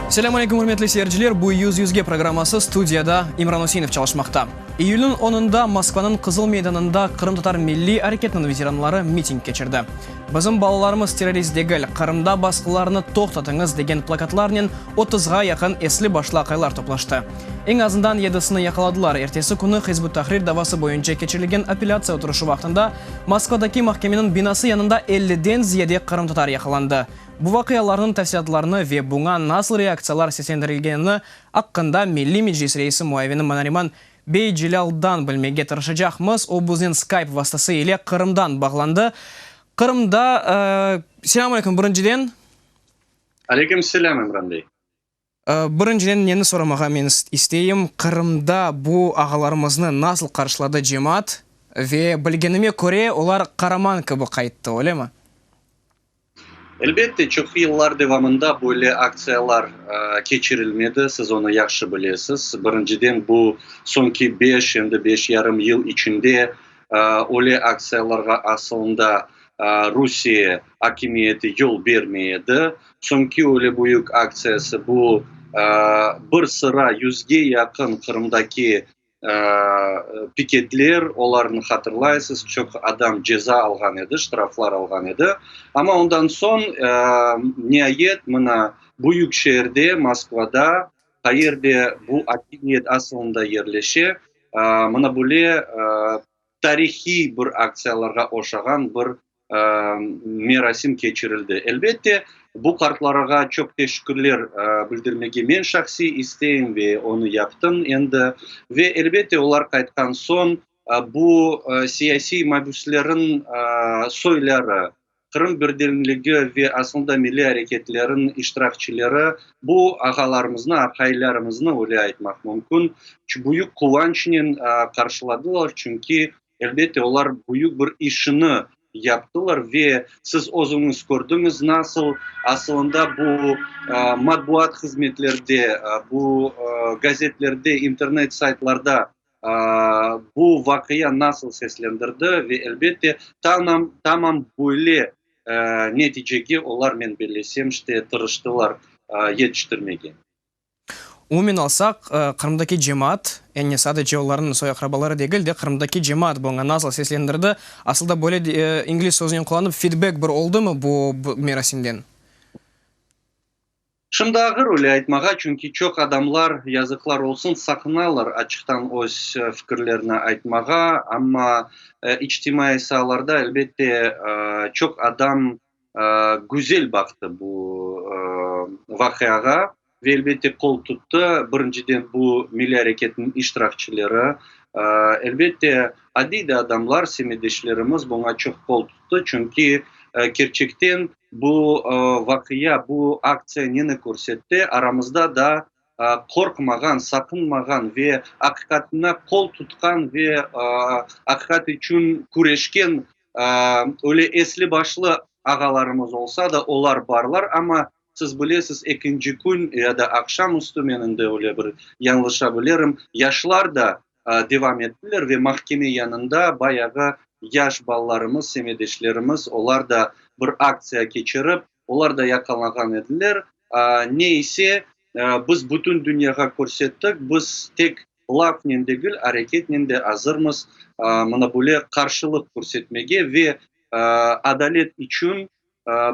Selâm aleyküm, ürmetli seyirciler! Bu Yüz yüzge programması, studiyada İmran Üseinov çalışmaqta. İyülniñ onunda Moskvanıñ Qızıl meydanında qırımtatar milliy areketiniñ veteranları miting keçirdi. Bizim balalarımız terrorist degil, Qırımda basqılarnı toqtatıñız degen plakatlarnen otuzğa yaqın esli-başlı aqaylar toplaştı. Eñ azından yedisini yaqaladılar. Ertesi künü Hizb ut-Tahrir davası boyunca keçirilgen apellâtsiya oturışı vaqtında Moskvadaki mahkemeniñ binası yanında elli den ziyade qırımtatar yaqalandı. Bu vaqialarnıñ tafsilâtlarını ve buña nasıl reaktsiyalar seslendirilgenini aqqında Milliy Meclis reisi muavini Manariman Beycelâldan bilmege tırışacaqmız, o biznen Skype vastası ile Qırımdan bağlandı. Qırımda, Selam aleyküm, birinciden. Aleyküm selam, İmran bey. Birinciden, neni soramağa men isteyim, Qırımda bu ağalarımıznı nasıl qarşıladı cemaat? Ve bilgenime köre, olar qaraman kibi qayttı, öylemi? Elbette, çoq yıllar devamında böyle aktsiyalar keçirilmedi, siz onı yahşı bilesiz. Birinciden, bu soñki beş, em de beş yarım yıl içinde öyle aktsiyalarğa aslında Rusiye akimiyeti yol bermey edi. Çünki öyle büyük aktsiyası bu, bir sıra yüzge yaqın Qırımdaki piketler, olarnı hatırlaysız, çoq adam ceza alğan edi, ştraflar alğan edi. Amma ondan soñ, niayet, mına büyük şeerde, Moskvada, qayerde bu akimiyet asılında yerleşe, mına böyle tarihiy bir aktsiyalarğa oşağan bir merasim keçirildi. Elbette, bu qartlarığa çoq teşekkürler bildirmege men şahsiy isteyim ve onı yaptım endi. Ve, elbette, olar qaytqan soñ bu siyasiy mabüsleriñ soyları, Qırım birdemligi ve asılında milliy areketleriñ iştirakçileri bu ağalarımıznı, aqaylarımıznı, öyle aytmaq mümkün, büyük quvançnen qarşıladılar, çünki Elbette, olar büyük bir işini yaptılar ve siz özüñiz kördiñiz, nasıl asılında bu matbuat hızmetlerde, bu gazetlerde, internet saytlarda bu vaqia nasıl seslendirdi ve elbette, tamam, tamam böyle neticege olar, men bellesem, işte tırıştılar yetiştirmege. Umumen alsaq, Qırımdaki cemaat, yani sadece olarnıñ soy-aqrabaları degil de, Qırımdaki cemaat buña nasıl seslendirdi? Asılda böyle ingliz sözünen qullanıp, feedback bir oldumı bu merasimden? Şimdi ağır öyle aytmağa, çünki çoq adamlar, yazıqlar olsun, saqınalar açıqtan öz fikirlerini aytmağa. Amma içtimaiy saalarda, elbette, çoq adam güzel baqtı bu vaqiağa ve elbette qol tuttı. Birinciden bu milliy areketniñ iştirakçileri, elbette adiy de adamlar, semetdeşlerimiz buña çoq qol tuttı. Çünki kerçekten bu vaqia, bu aktsiya neni körsetti, aramızda da qorqmağan, saqınmağan ve aqiqatına qol tutqan ve aqiqat içün küreşken Öyle esli-başlı ağalarımız olsa da, olar barlar, amma, siz bilesiz, ekinci kün ya da aqşam üstü, men indi öyle bir yañlışa bilirim, yaşlar da devam ettiler ve mahkeme yanında bayağı yaş balalarımız, semedeşlerimiz, olar da bir aktsiya keçirip, Olar da yaqalanğan ediler. Ne ise, biz bütün dünyağa körsettik, biz tek lafnen degil, areketnen de azırmız mına böyle qarşılıq körsetmege ve adalet içün,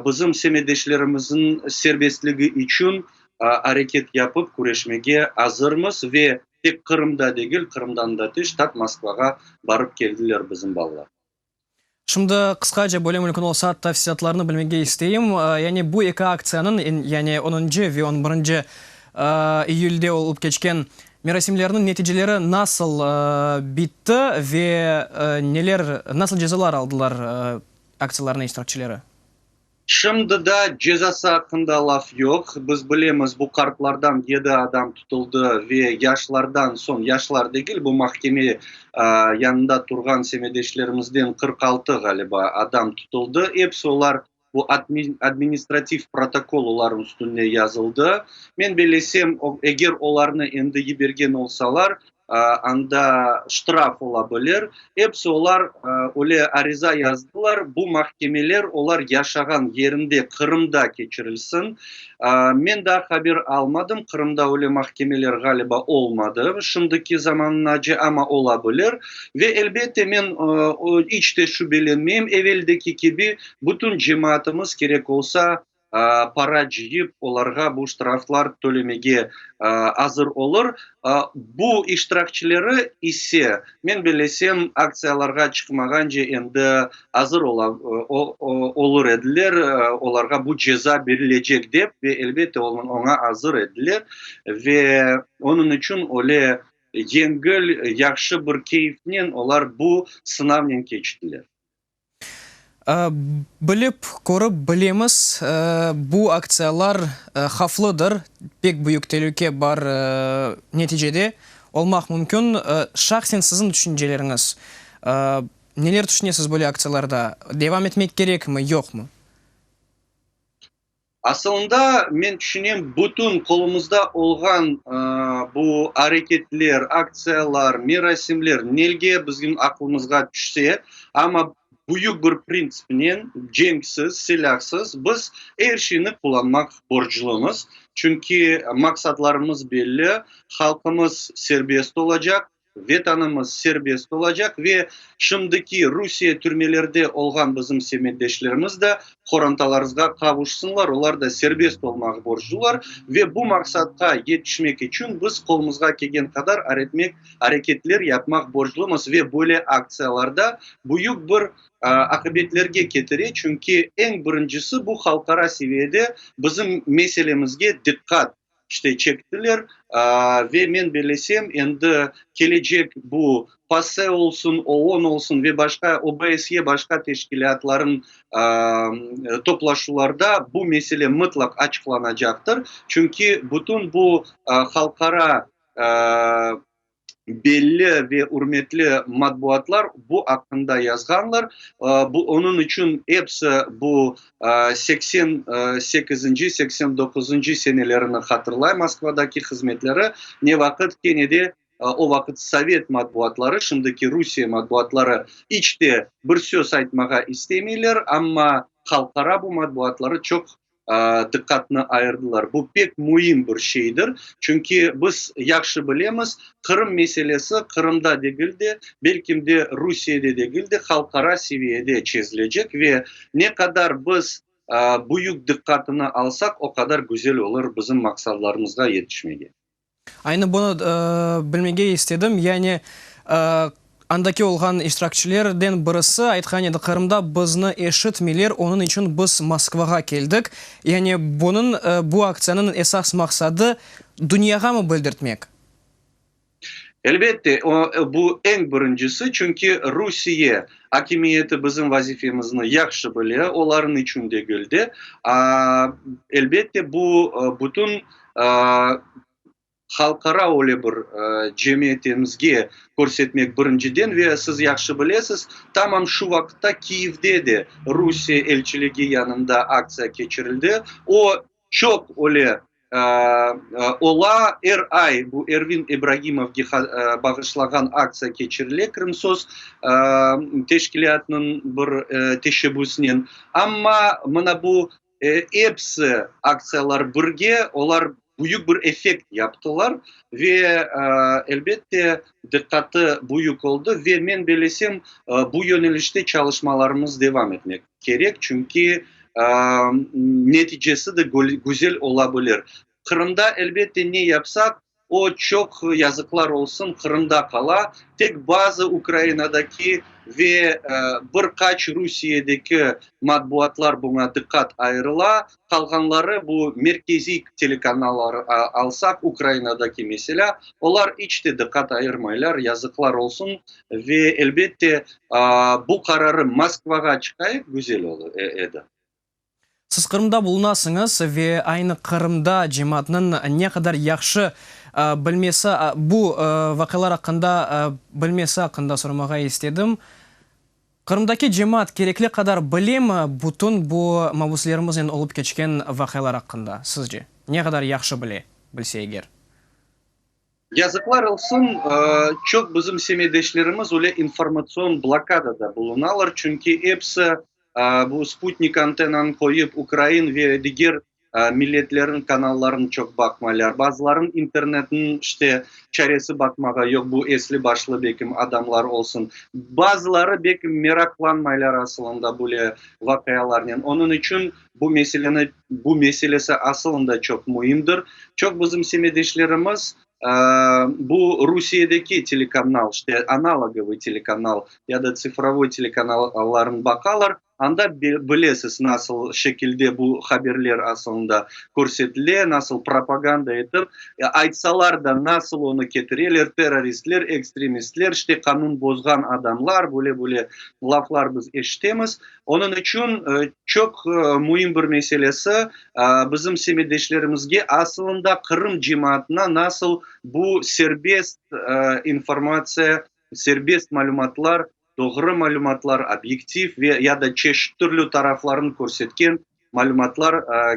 bizim semedeşlerimizniñ serbestligi içün areket yapıp küreşmege azırmız ve tek Qırımda degil, Qırımdan da tış, tap Moskvağa barıp keldiler bizim balalar. Şimdi qısqaca, böyle mümkün olsa, tafsilâtlarını bilmege isteyim. Yani bu eki aktsiyanıñ, yani onuncu ve on birinci iyülde olıp keçken merasimlerniñ neticeleri nasıl bitti ve neler, nasıl cezalar aldılar aktsiyalarnıñ iştirakçileri? Şimdi da cezası aqqında laf yoq. Biz bilemiz, bu qartlardan yedi adam tutuldı ve yaşlardan soñ, yaşlar degil, bu mahkeme yanında turğan semedeşlerimizden qırq altı, ğaliba, adam tutuldı. Episi olar bu administrativ protokol olarnıñ üstüne yazıldı. Men belesem, eger olarnı endi yibergen olsalar, Anda ştraf ola bilir. Episi olar öyle ariza yazdılar, bu mahkemeler olar yaşağan yerinde, Qırımda keçirilsin. Men daa haber almadım, Qırımda öyle mahkemeler ğaliba olmadı şimdiki zamanınace, amma ola bilir. Ve elbette men iç te şübelenmeyim, eveldeki kibi bütün cemaatımız kerek olsa, para cıyıp, olarğa bu ştraflar tölemege azır olur. Bu iştirakçileri ise, men bilesem, aktsiyalarğa çıqmağance endi azır olur ediler, olarğa bu ceza berilecek dep, ve elbette, oña azır ediler. Ve onıñ içün öyle yengil, yahşı bir keyifnen olar bu sınavnen keçtiler. Bilip, körip bilemiz, bu aktsiyalar havflıdır, pek büyük telüke bar neticede olmaq mümkün. Şahsen siziñ tüşünceleriñiz, neler tüşünesiz böyle aktsiyalarda, devam etmek kerekmi, yoqmı? Asılında, men tüşünem, bütün qolumızda olğan bu areketler, aktsiyalar, merasimler nelge bizim aqlımızğa tüşse, amma büyük bir printsipnen, cenksiz, silâhsız biz er şeyni qullanmaq borclumız. Çünki maqsadlarımız belli, halqımız serbest olacaq, Vetanımız serbest olacaq ve şimdiki Rusiye türmelerde olğan bizim semetdeşlerimiz de qorantalarızğa qavuşsınlar, olar da serbest olmağa borclular ve bu maqsatqa yetişmek içün biz qolumızğa kelgen qadar aretmek, areketler yapmaq borclumız ve böyle aktsiyalarda büyük bir aqibetlerge ketire, çünki eñ birincisi bu halqara seviyede bizim meselemizge diqqat. İşte çektiler ve men belesem endi kelecek bu PASE olsun, OON olsun ve başqa OBSYE başqa teşkilâtların toplaşuvlarda bu mesele mıtlaq açıqlanacaqtır. Çünki bütün bu halqara belli ve ürmetli matbuatlar bu aqqında yazğanlar. Onıñ içün episi bu seksen sekizinci, seksen doquzuncu senelerini hatırlay, Moskvadaki hızmetleri ne vaqıt kene de o vaqıt sovet matbuatları, şimdiki Rusiye matbuatları iç te bir söz aytmağa istemeyler, amma halqara bu matbuatları çoq diqqatnı ayırdılar. Bu pek müim bir şeydir. Çünki biz yahşı bilemiz, Qırım meselesi Qırımda degil de, belkim de Rusiyede degil de, halqara seviyede çezilecek ve ne qadar biz büyük diqqatını alsaq, o qadar güzel olur bizim maqsadlarımızğa yetişmege. Aynı bunı bilmege istedim, yani andaki olğan iştirakçilerden birisi aytqan edi, Qırımda bizni eşitmeyler, onıñ içün biz Moskvağa keldik. Yani bunıñ, bu aktsiyanıñ esas maqsadı dünyağamı bildirtmek? Elbette, bu eñ birincisi, çünki Rusiye akimiyeti bizim vazifemizni yahşı bile, olarnıñ içün degil de. Elbette, bu bütün halqara öyle bir cemiyetimizge körsetmek birinciden ve siz yahşı bilesiz, tamam şu vaqıtta Kiyevde de Rusiye elçiligi yanında aktsiya keçirildi. O, çoq öyle ola, er ay bu Ervin İbragimovge bağışlağan aktsiya keçirile Krımsos teşkilâtınıñ bir teşebbüsinen. Amma mına bu. Episi aktsiyalar birge, olar büyük bir effekt yaptılar ve, elbette, diqqatı büyük oldı ve men belesem, bu yönelişte çalışmalarımız devam etmek kerek, çünki neticesi de güzel olabilir. Qırımda, elbette, ne yapsaq, o, çoq yazıqlar olsun, Qırımda qala. Tek bazı Ukrainadaki ve bir qaç Rusiyedeki matbuatlar buña diqqat ayırıla, qalğanları, bu merkeziy telekanallar alsaq, Ukrainadaki meselâ, olar iç te diqqat ayırmaylar, yazıqlar olsun. Ve, elbette, bu qararı Moskvağa çıqayıq, güzel edi. Siz Qırımda bulunasıñız ve aynı Qırımda cemaatnıñ ne qadar yahşı bilmesi, bu vaqialar aqqında bilmesi aqqında soramağa istedim. Qırımdaki cemaat kerekli qadar bilemi bütün bu mabuslerimiznen olıp keçken vaqialar aqqında, sizce? Ne qadar yahşı bile, bilse eger? Yazıqlar olsun, çoq bizim semedeşlerimiz öyle informatsion blokadada bulunalar, çünki episi bu Sputnik antennanı qoyıp, ukrain ve diger milletlerniñ kanallarını çoq baqmaylar, bazılarınıñ internetiniñ işte çaresi baqmağa yoq, bu esli başlı belki adamlar olsun, bazıları belki meraqlanmaylar asılında böyle vaqialarnen, onıñ içün. Bu meseleni, bu meselesi asılında çoq müimdir. Çoq bizim semedeşlerimiz bu Rusiyedeki telekanal, işte analogovıy telekanal ya da tsifrovoy telekanallarını baqalar, anda bilesiz nasıl şekilde bu haberler asılında körsetile, nasıl propaganda etip, aytsalar da nasıl onı ketireler, terroristler, ekstremistler, işte qanun bozğan adamlar, böyle böyle laflar biz eşitemiz. Onıñ içün çoq müim bir meselesi, bizim semetdeşlerimizge asılında Qırım cemaatına nasıl bu serbest informatsiya, serbest malümatlar, doğru malümatlar, obyektiv ve ya da çeşit türlü taraflarını körsetken malümatlar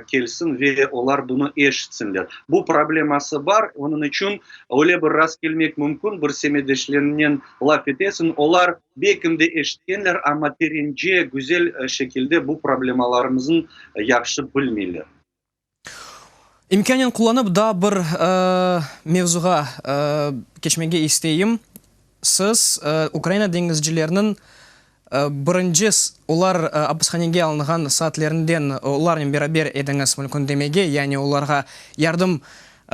kelsin ve olar bunı eşitsinler. Bu probleması bar, onıñ içün öyle bir rast kelmek mümkün, bir semedeşleriñnen laf etesiñ, olar belkim de eşitkenler, amma terence, güzel şekilde bu problemalarımıznı yahşı bilmeyler. İmkânen qullanıp daa bir mevzuğa keçmege isteyim. Siz Ukraina deñizcileriniñ Birinci, olar apishanege alınğan saatlerinden olarnen beraber ediñiz mülkündemege, yani olarğa yardım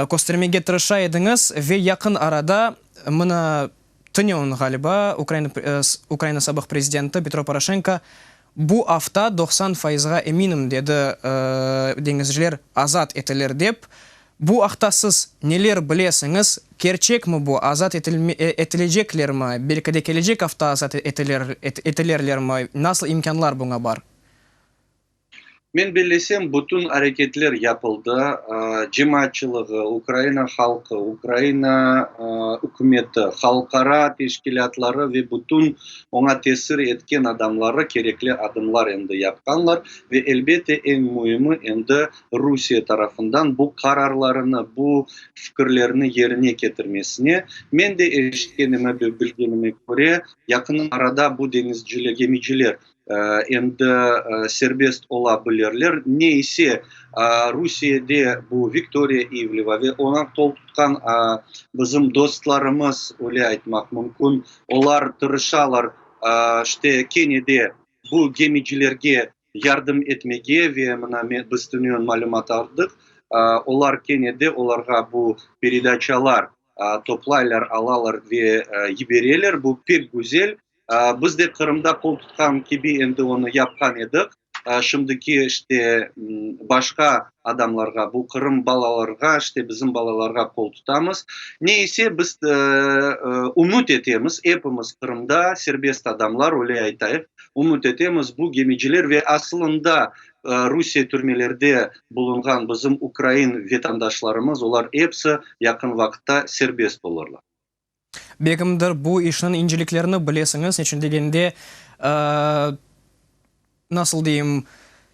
köstermege tırışa ediñiz, ve yaqın arada, mına, tünün, ğaliba, Ukraina sabıq prezidenti Petro Poroşenko, bu afta doqsan faizğa eminim, dedi, deñizciler azat etilir dep, Bu aqta siz neler bilesiñiz? Kerçekmi bu? Azat etileceklermi? Belki de kelecek afta azat etilerlermi? Nasıl imkânlar buña bar? Men bellesem, bütün areketler yapıldı. Cemaatçılığı, Ukraina halqı, Ukraina ükümeti, halqara teşkilâtları ve bütün oña tesir etken adamları kerekli adımlar endi yapqanlar. Ve elbette, eñ müimi, endi Rusiye tarafından bu qararlarını, bu fikirlerini yerine ketirmesine, men de eşitkenime ve bilgenime köre, yaqın arada bu deñizciler, gemiciler endi serbest ola bilirler. Ne ise, Rusiyede bu Viktoriya İvleva ve oña qol tutqan bizim dostlarımız, öyle aytmaq mümkün, olar tırışalar, işte, kene de bu gemicilerge yardım etmege ve mına men, biz tünün malümat aldıq, olar kene de olarğa bu peredaçalar toplaylar, alalar ve yibereler, bu pek güzel. Biz de Qırımda qol tutqan kibi endi onı yapqan ediq. Şimdiki işte başqa adamlarğa, bu Qırım balalarğa, işte bizim balalarğa qol tutamız. Ne ise biz ümüt etemiz, epimiz Qırımda serbest adamlar, öyle aytayıq, Ümüt etemiz, bu gemiciler ve asılında Rusiye türmelerde bulunğan bizim ukrain vetandaşlarımız, olar episi yaqın vaqıtta serbest olurlar. Begimdir, bu işniñ inceliklerini bilesiñiz, neçün degende, nasıl deyim,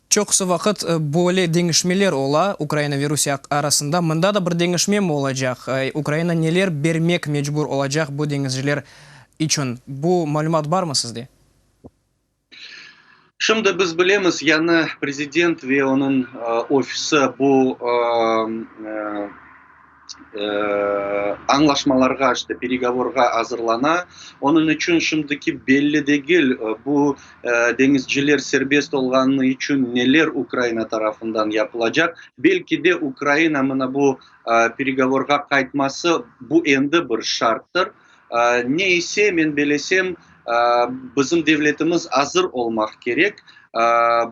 çoqusı vaqıt böyle deñişmeler ola Ukraina ve Rusiye arasında. Mında da bir deñişmemi olacaq? Ukraina neler bermek mecbur olacaq bu deñizciler içün? Bu malümat barmı sizde? Şimdi biz bilemiz, yañı prezident ve onıñ ofisi bu añlaşmalarğa, işte peregovorğa azırlana. Onıñ içün şimdiki belli degil, bu deñizciler serbest olğanı içün neler Ukraina tarafından yapılacaq. Belki de Ukraina mına bu peregovorğa qaytması, bu endi bir şarttır. Ne ise, men belesem, bizim devletimiz azır olmaq kerek,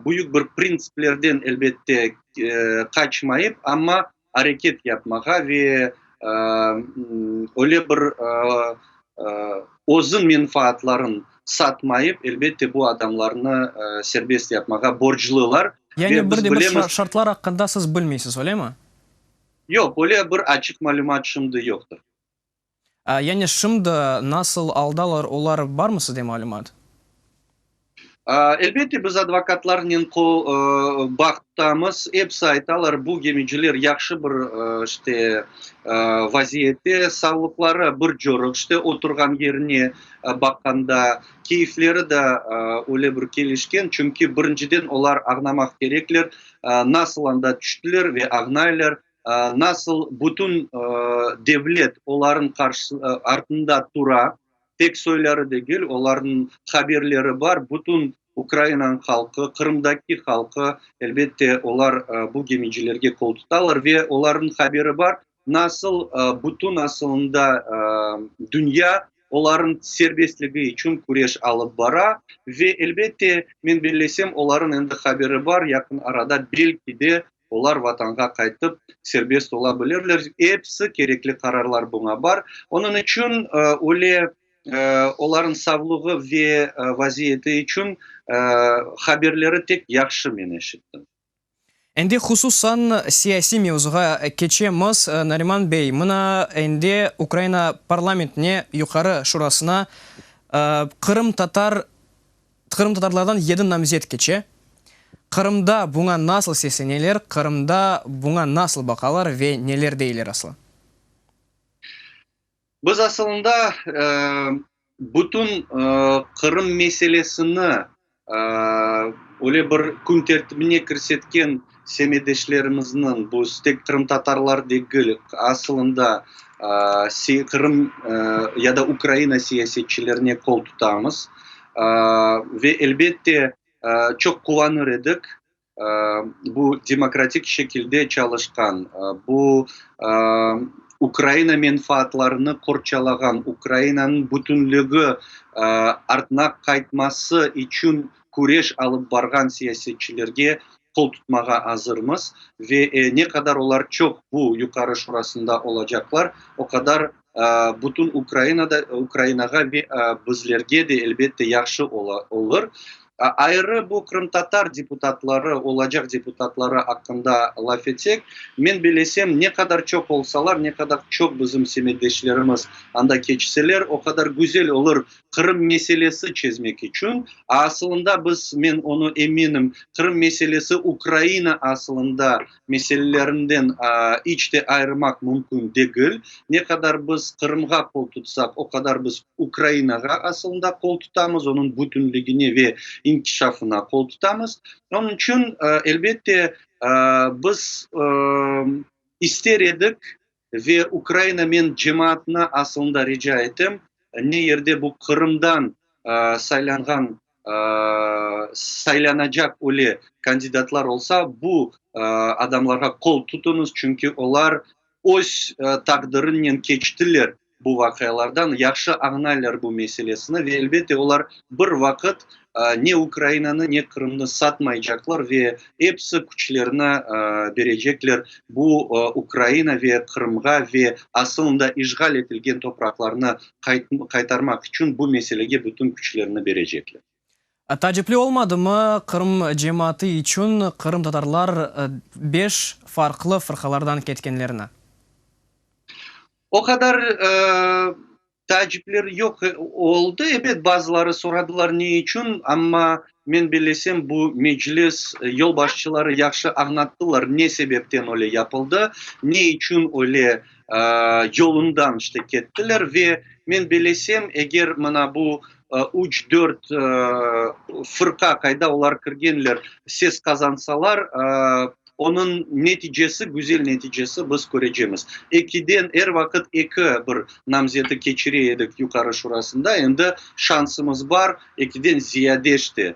büyük bir printsiplerden, elbette, qaçmayıp, amma areket yapmağa ve öyle bir özü menfaatların satmayıp, elbette, bu adamlarnı serbest yapmağa borclılar. Yani bir de bir şartlar aqqında siz bilmeysiz, öylemi? Yoq, öyle bir açıq malümat şimdi yoqtır. Yani şimdi nasıl aldalar olar barmı sizde malümat? Elbette biz advokatlarnen bağıttamız, episi aytalar bu gemiciler yahşı bir işte vaziyette, savlıqları bir corıq işte oturğan yerine baqqanda, keyfleri de öyle bir kelişken, çünki birinciden olar ağnamaq kerekler, nasıl anda tüştiler ve ağnaylar, Nasıl bütün devlet olarnıñ artında tura, tek soyları degil, olarnıñ haberleri bar, bütün Ukrainanıñ halqı, Qırımdaki halqı, elbette, olar bu gemicilerge qol tutalar ve olarnıñ haberi bar, nasıl bütün asılında dünya olarnıñ serbestligi içün küreş alıp bara ve, elbette, men bellesem, olarnıñ endi haberi bar, yaqın arada belki de Olar Vatanğa qaytıp serbest ola bilirler. Episi kerekli qararlar buña bar. Onıñ içün öyle olarnıñ savlığı ve vaziyeti içün haberleri tek yahşı men eşittim. Endi hususan siyasiy mevzuğa keçemiz. Nariman bey, mına endi Ukraina parlamentine, Yuqarı Şurasına qırımtatar Qırımtatarlardan yedi namzet keçe. Qırımda buña nasıl sesleneler, Qırımda buña nasıl baqalar ve neler deyler aslı? Biz asılında bütün Qırım meselesini öyle bir kün tertibine kirsetken Semedeşlerimizniñ bu tek qırımtatarlar degil, asılında Qırım ya da Ukraina siyasetçilerine qol tutamız. Ve elbette, çoq quvanır edik bu demokratik şekilde çalışqan, bu Ukraina menfaatlarını qorçalağan, Ukrainanıñ bütünligi artına qaytması içün küreş alıp barğan siyasetçilerge qoltutmağa azırmız ve ne qadar olar çoq bu Yuqarı Şurasında olacaqlar, o qadar bütün Ukrainada, Ukrainağa ve bizlerge de, elbette, yahşı olur. Ayrı bu qırımtatar deputatları, olacaq deputatları aqqında laf etsek, men belesem, ne qadar çoq olsalar, ne qadar çoq bizim semetdeşlerimiz anda keçseler, o qadar güzel olur Qırım meselesi çezmek içün, asılında biz, men onı eminim, Qırım meselesi Ukraina asılında meselelerinden iç de ayırmaq mümkün degil. Ne qadar biz Qırımğa qol tutsaq, o qadar biz Ukrainağa asılında qol tutamız, onıñ bütünligine ve inkişafına qol tutamız. Onıñ içün, elbette, biz ister edik, Ve Ukraina men cemaatına asılında rica etem, ne yerde bu Qırımdan saylanğan, saylanacaq öyle kandidatlar olsa, bu adamlarğa qol tutuñız, çünki olar öz taqdırınnen keçtiler, Bu vaqialardan yahşı añlaylar bu meselesini ve, elbette, olar bir vaqıt ne Ukrainanı, ne Qırımnı satmaycaqlar ve episi küçlerini berecekler bu Ukraina ve Qırımğa ve asılında işğal etilgen topraqlarnı qaytarmaq içün bu meselege bütün küçlerini berecekler. Taacipli olmadımı, Qırım cemaatı içün qırımtatarlar beş farqlı fırqalardan ketkenlerini? O qadar taacipler yoq oldı. Ebet, bazıları soradılar, ne içün, amma men bilesem, bu Meclis yolbaşçıları yahşı añlattılar, ne sebepten öyle yapıldı, ne içün öyle yolundan işte kettiler. Ve men bilesem, eger mına bu üç, dört fırqa qayda olar kirgenler, ses qazansalar, onıñ neticesi, güzel neticesi biz körecemiz. Ekiden, er vaqıt eki bir namzeti keçire edik Yuqarı Şurasında, endi şansımız bar, ekiden Ziyadeş de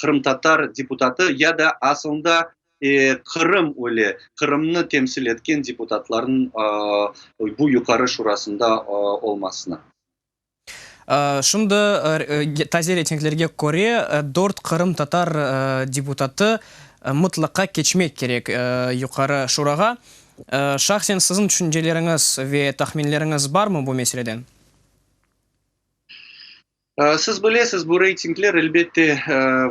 qırımtatar deputatı ya da asılında Qırım öyle, Qırımnı temsil etken deputatlarnıñ bu Yuqarı Şurasında olmasına. Şimdi taze reytinglerge köre, dört qırımtatar deputatı mıtlaqa keçmek kerek Yuqarı Şurağa. Şahsen siziñ tüşünceleriñiz ve tahminleriñiz barmı bu meseleden? Siz bilesiz, bu reytingler, elbette,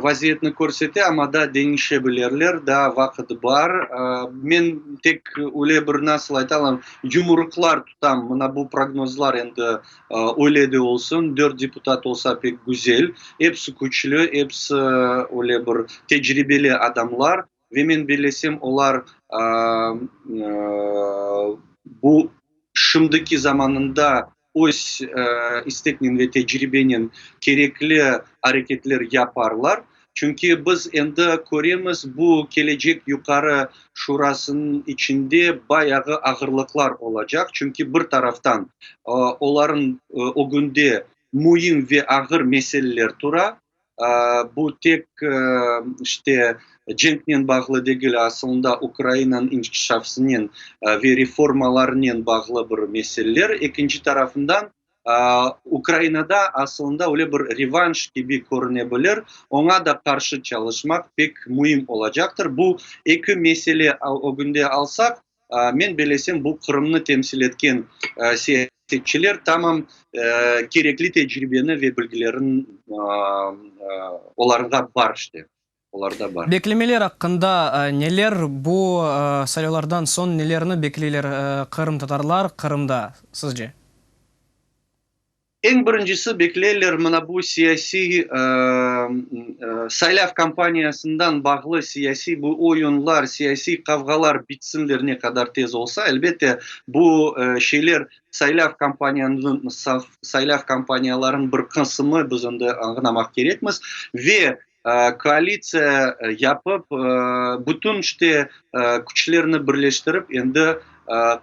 vaziyetni körsete, amma daa deñişe bilirler, daa vaqıt bar. Men tek öyle bir, nasıl ayta alam, yumruqlar tam mına bu prognozlar endi öyle de olsun, dört deputat olsa pek güzel, episi küçlü, episi öyle bir tecribeli adamlar ve men bellesem olar bu şimdiki zamanında öz isteknen ve tecribenen kerekli areketler yaparlar. Çünki biz endi köremiz, bu Kelecek Yuqarı Şurasınıñ içinde bayağı ağırlıqlar olacaq, çünki bir taraftan olarnıñ ögünde müim ve ağır meseleler tura, bu tek işte cenknen bağlı degil, asılında Ukrainanıñ inkişafınen ve reformalarınen bağlı bir meseleler, ekinci tarafından, Ukrainada asılında öyle bir revanş kibi körüne bilir, oña da qarşı çalışmaq pek müim olacaqtır. Bu eki mesele ögünde alsaq, men belesem, bu Qırımnı temsil etken siyasetçiler tamam kerekli tecribeni ve bilgilerin olarında bar işte. olarda bar. Beklemeler aqqında neler? Bu saylavlardan soñ nelerni bekleyler qırımtatarlar Qırımda, sizce? Eñ birincisi, bekleyler mına bu siyasiy saylav kampaniyasından bağlı siyasiy bu oyunlar, siyasiy qavğalar bitsinler, ne qadar tez olsa. Elbette, bu şeyler saylav kampaniyanıñ, saylav kampaniyalarınıñ bir qısımı, biz endi añlamaq kerekmiz. Ve Koalitsiya yapıp, bütün işte küçlerni birleştirip, endi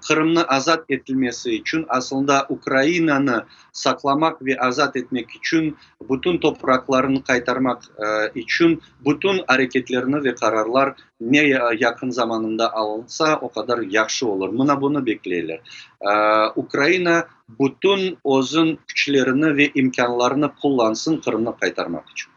Qırımnı azat etilmesi içün, asılında Ukrainanı saqlamaq ve azat etmek içün, bütün topraqlarını qaytarmaq içün bütün areketlerni ve qararlar ne yaqın zamanında alınsa, o qadar yahşı olur. Mına bunı bekleyler. Ukraina bütün özün küçlerini ve imkânlarını qullansın Qırımnı qaytarmaq içün.